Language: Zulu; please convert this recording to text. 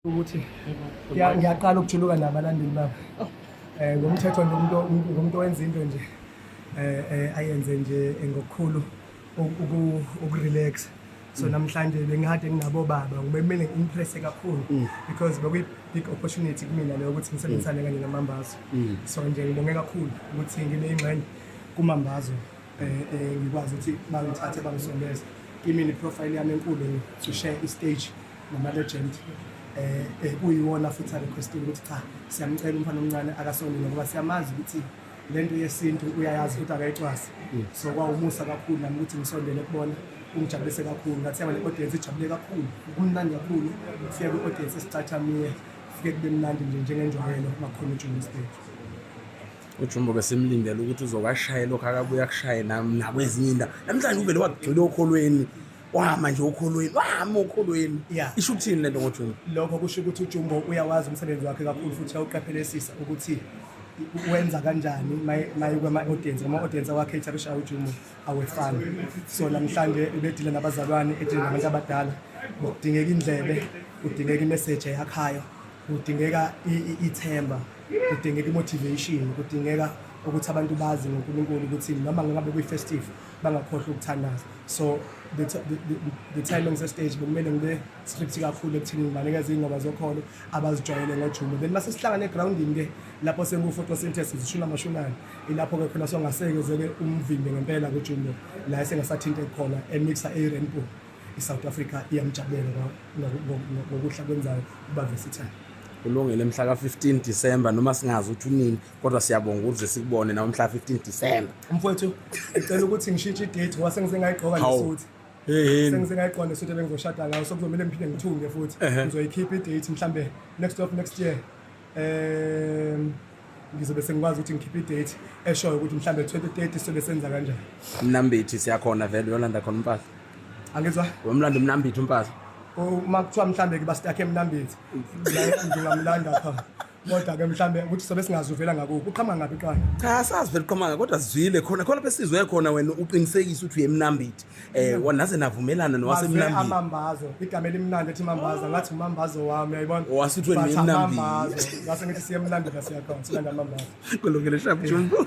ukuthi ngiya- ngiyaqala ukujuluka nabalandeli babo um ngomthetho nje umuntu umuntu- umuntu wenza into nje um ayenze nje ngokukhulu uku- uku- ukurelax so namhlanje bengikade nginabo baba ngibemele ngi-impresse kakhulu because bekuyi-big opportunity kumina leyo ukuthi ngisebenzisane kanye namambazo so nje ngibonge kakhulu ukuthi ngibe ingxenye kumambazo um ngikwazi ukuthi bangithathe bangisondeze kimi ne-profile yami enkulu to share i-stage namalegend eh, eh kuyiwona futhi arequesting ukuthi cha siyamcela umfana omncane akasonile ngoba siyamazi ukuthi lento yesintu uyayazi ukuthi akayicwasi mm. so kwawumusa kakhulu nami ukuthi ngisondele kubona kungijabulise kakhulu ngathi yaba ne-audience ijabule kakhulu kumnandi kakhulu kufike kwi-audience esicathamile kufike kube mnandi nje njengenjwayelo makhona ujumbo stage ujumbo ke simlindele ukuthi uzokashaye lokhu akabuye akushaye nami nakwezinye indawo namhlanje uvele wagxila okholweni wama nje ukholweni wama ukholweni yeah. isho ukuthini lento ngojumbo lokho kusho ukuthi ujumbo uyawazi umsebenzi wakhe kakhulu futhi uyawuqaphelesisa ukuthi wenza kanjani maye kwama-audience ngama-audience awakhetha kushaye ujumbo awefani so namhlanje ubedile nabazalwane edile nabantu abadala kudingeka indlebe kudingeka imeseji eyakhayo kudingeka ithemba kudingeka imotivation kudingeka ukuthi abantu bazi ngonkulunkulu ukuthi noma ngabe kuyifestive bangakhohlwa ukuthandaza so the, the, the, the timing sestage bekumele ngibe script kakhulu ekuthini ngibanikeza iy'ngoma zokholo abazijwayele ngojumo then mase sihlangane egrawundini-ke lapho sengu-photosynthesis ishumi amashunane ilapho-ke khona songasekezeke umvimbi ngempela kujumo la esengasathinte khona emixa i-rainbow i-south africa iyamjabulela ngokuhla kwenzayo uba vesithane kulungile mhla ka-15 disemba noma singazi ukuthi unini kodwa siyabonga ukuze sikubone nawe mhla 15 December mfowethu ngicela ukuthi ngishintshe idate ngoba sengize ngayigqoka Hawu. nesuthi yeyini sengize ngayigqoka nesuthi ebengizoshada ngayo so kuzomele ngiphinde ngithunge futhi Ehhe. ngizoyikhipha idate mhlambe next of next year um ngizobe sengikwazi ukuthi ngikhiphe idate eshoyo ukuthi mhlambe 2030 sobe senza kanjani mnambithi siyakhona vele uyolanda khona umpahla angizwa wemlanda umnambithi umpahla uma kuthiwa mhlambe ke bastakhe emnambithi la ngingamlanda pha kodwa ke mhlambe ukuthi sobe singazuvela ngakuphi uqhama ngaphi qala cha sazi vele uqhama ngakho kodwa sizwile khona khona besizwe khona wena uqinisekisa ukuthi uyemnambithi eh mm. naze navumelana nowasemnambithi amambazo igama elimnandi ethi mambaza ngathi umambazo wami uyayibona wasuthi wena emnambithi ngase ngithi siyemnambithi siyakhona silanda mambazo kulungile shabu jumbo